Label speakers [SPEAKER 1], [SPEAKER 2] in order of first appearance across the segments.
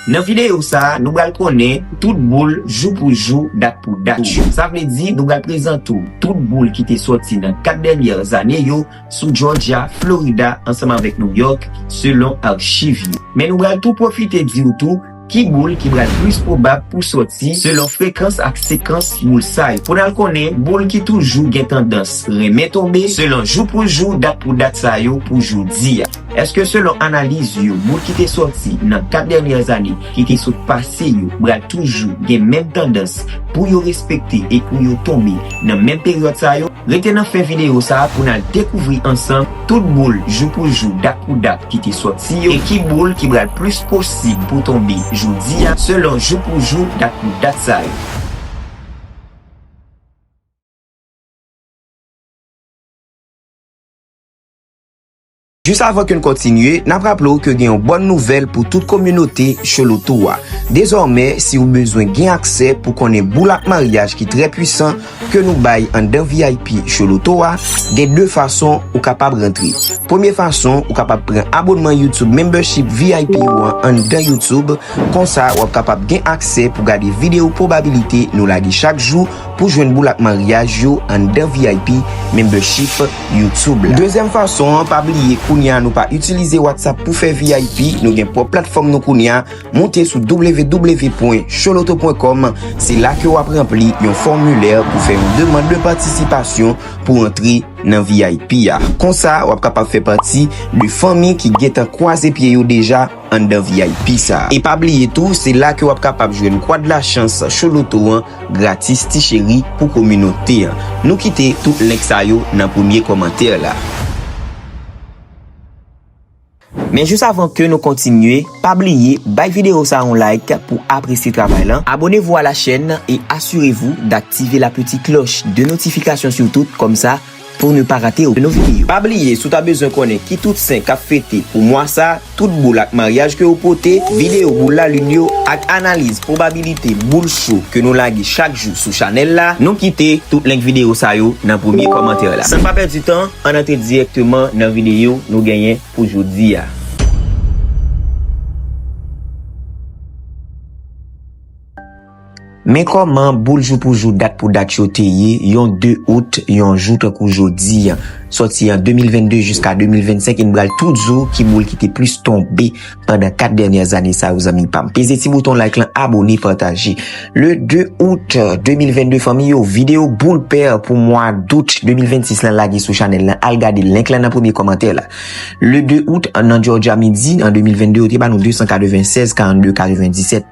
[SPEAKER 1] Nan videyo sa a, nou pral konnen tout boul jou pou jou, dat pou dat yo. Sa vle di nou pral prezante w tout boul ki te sòti nan 4 dènyè zane yo sou Jòjya, Florida ansanm avèk Nouyòk selon achiv yo. Men nou pral tou pwofite di w tou ki boul ki pral plis pwobab pou sòti selon frekans ak sekans boul sa yo. Pou n al konnen boul ki toujou gen tandans renmen tonbe selon jou pou jou, dat pou dat sa yo pou jodi a. Eske selon analiz yo moun ki te sòti nan 4 dènyè ane ki te sot pase yo pral toujou gen menm tandans pou yo respekte e pou yo tonbe nan menm peryòd sa yo? Rete nan fen videyo sa pou n al dekouvri ansanm tout boul jou pou jou dat pou dat ki te sòti yo e ki boul ki pral plis posib pou tonbe jodi a selon jou pou jou dat pou dat sa yo. Jis avan ke n kontinye, n ap raple w ke gen yon bòn nouvèl pou tout kominote Cholotou a. Dezòmè, si ou bezwen gen aksè pou konnen boul ak maryaj ki trè pwisan ke nou bay anndan vip Choloto a, gen 2 fason ou kapab rantre. Premye fason, ou kapab pran abonnman YouTube Membership vip ou an anndan YouTube, konsa w ap kapab gen aksè pou gade video pwobabilite nou lage chak jou pou jwenn boul ak maryaj yo anndan vip Membership. YouTube la. Dezyèm fason an, pa bliye kounye a nou pa itilize WhatsApp pou fè vip, nou gen pwòp platfòm nou kounye a, moute sou www.choloto.com, se la ke wap ranpli yon fòmilè pou fè yon demand de patisipasyon pou antre nan vip a. Konsa wap kapab fè pati de fanmi ki gentan kwaze pye yo deja anndan vip sa. E pa bliye tou, se la ke wap kapab jwenn Kwad Lachans Choloto an. Gratis ti cheri pou kominote an. Nou kite tout link sa yo nan premye kòmantè la. Men jis avan ke nou kontinye, pa bliye bay video sa yon like pou apresye travay lan, abonnez-vous à la chaîne et assurez-vous d'activer la petite cloche de notification surtout, kòmsa. Pou ne pa rate okenn video. Pa bliye si w ta bezwen konnen ki tout sen kap fete pou mwa sa, tout boul ak maryaj ke yo pote, video boul lalin yo ak analiz pwobabilite boul cho ke nou lage chak jou sou chanèl la, nou kite tout link video sa yo nan premye kòmantè la. San pa pèdi tan, ann antre dirèkteman nan video nou genyen pou jodi a. Men kòman boul jou pou jou dat pou dat yo te ye yon 2 out yon jou tankou jodi an. Sòti an 2022 jiska 2025 e n pral tou di w ki boul ki te plis tonbe pandan 4 dènyè zane sa yo zanmi pa m. Peze ti bouton like lan abone pataje. Le 2 out 2022 fanmi yo videyo boul pè pou mwa dout 2026 lan lage sou chanèl lan al gade link lan nan premye kòmantè la. Le 2 out nan Georgia midi an 2022 yo te ba nou 296 42 97.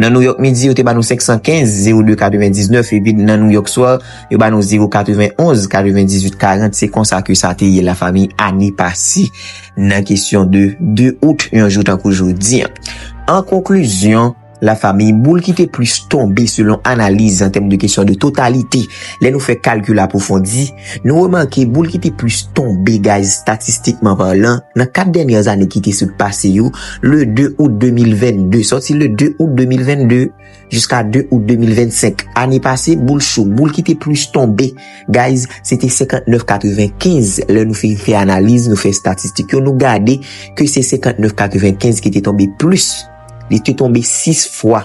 [SPEAKER 1] Nan Nouyòk midi yo te ba nou 515, 02 99 epi nan Nouyòk swa yo ba nou 0 91, 98 40 se konsa ke sa te ye la fanmi ane pase nan kesyon de 2 out yon jou tankou jodi an. An konklizyon, la fanmi boul ki te plis tonbe selon analiz an tèm de kesyon de totalite lè nou fè kalkil apwofondi, Nou remake boul ki te plis tonbe gaz statistikman palan nan 4 dènyè ane ki te sot pase yo, le 2 out 2022, sòti le 2 out 2022 jiska 2 out 2025. Ane pase, boul cho, boul ki te plis tonbe gaz, se te 59,95. Lè nou fin fè analiz, nou fè statistik yo, nou gade ke se 59,95 ki te tonbe plis. Li te tonbe 6 fwa.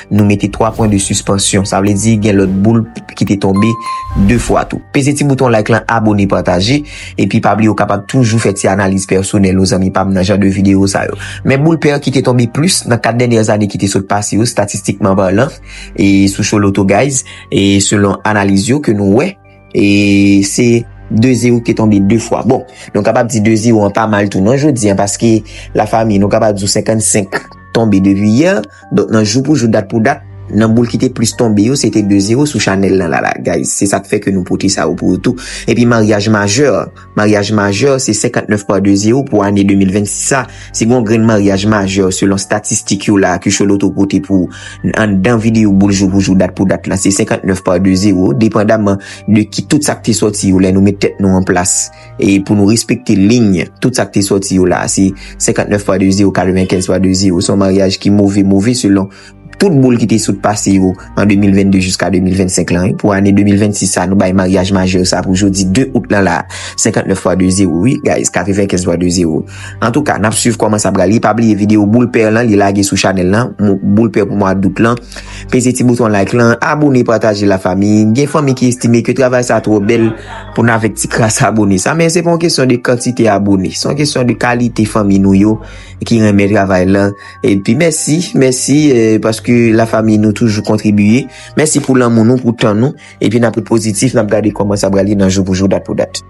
[SPEAKER 1] nou mete 3 pwen de suspansyon. Sa vle di gen lòt boul ki te tonbe 2 fwa tou. Peze ti bouton like lan, abone, pataje. Epi pa bliye ou kapab toujou fè ti analiz pèsonèl ou zanmi pam nan jan de videyo sa yo. Men boul pè ki te tonbe plis nan 4 dènyè zane ki te sot pase yo statistikman parlan e sou Choloto guys e selon analiz yo ke nou wè. E se 2 0 ki tonbe 2 fwa. Bon, nou kapab di 2 0 an pa mal tou nan jodi an, paske la fami nou kapab di 55 tonbe depi yè. Donk nan jou pou jou, dat pou dat, nan boul ki te plis tonbe yo, se te 2 0 sou chanèl nan la la. Guys, se sa k fè ke nou pote sa yo pou ou tou. E pi maryaj majè. Maryaj majè se 59 pa de zero pou ane 2026 a, si gen yon grenn maryaj majè selon statistik yo la a ke Choloto pote pou ou n anndan videyo boul jou pou jou dat pou dat lan se 59 pa de zero depandaman de ki tout sa k te sòti yo lè nou met tèt nou an plas e pou nou respekte liy tout sa k te sòti yo la a se 59 pa de zero 95 pa de zero se yon maryaj ki move move selon Tout boule ki te sot pase yo an 2022 jiska 2025 lan wi. Pou ane 2026 sa nou bay maryaj majeur sa pou jodi 2 août lan la. 59 fwa 2 zero wi guys 95 fwa 2 zero. Antouka nap swiv koman sa pral ye pa bliye video boule père lan li lage sou chanel lan boule père pou mwa d'août lan. Peze ti bouton like lan abone pataje la fami gen fanmi ki estime ke travay sa tro bèl pou nan avek ti kras abone sa men se pa yon kesyon de kantite abone se yon kesyon de kalite fanmi nou yo ki renmen travay lan. Epi mèsi, mèsi paske la fami nou toujou kontribiye. Mèsi pou lanmou nou, pou tan nou. Epi n ap ret pozitif, n ap gade kòman sa pral ye nan jou pou jou, dat pou dat.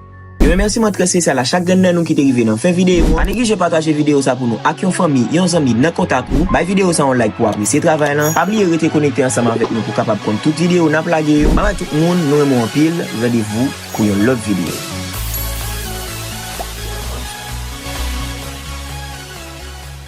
[SPEAKER 1] Yon remèsiman trè spesyal a chak grenn nan nou ki te rive nan fen videyo an. Pa neglije pataje videyo sa pou nou ak yon fanmi, yon zanmi nan kontak ou. Bay videyo sa yon like pou w apresye travay lan. Pa bliye rete konekte ansanm avèk nou pou w kapab konn tout videyo n ap lage yo. Babay tout moun, nou renmen w anpil. Randevou pou yon lòt videyo.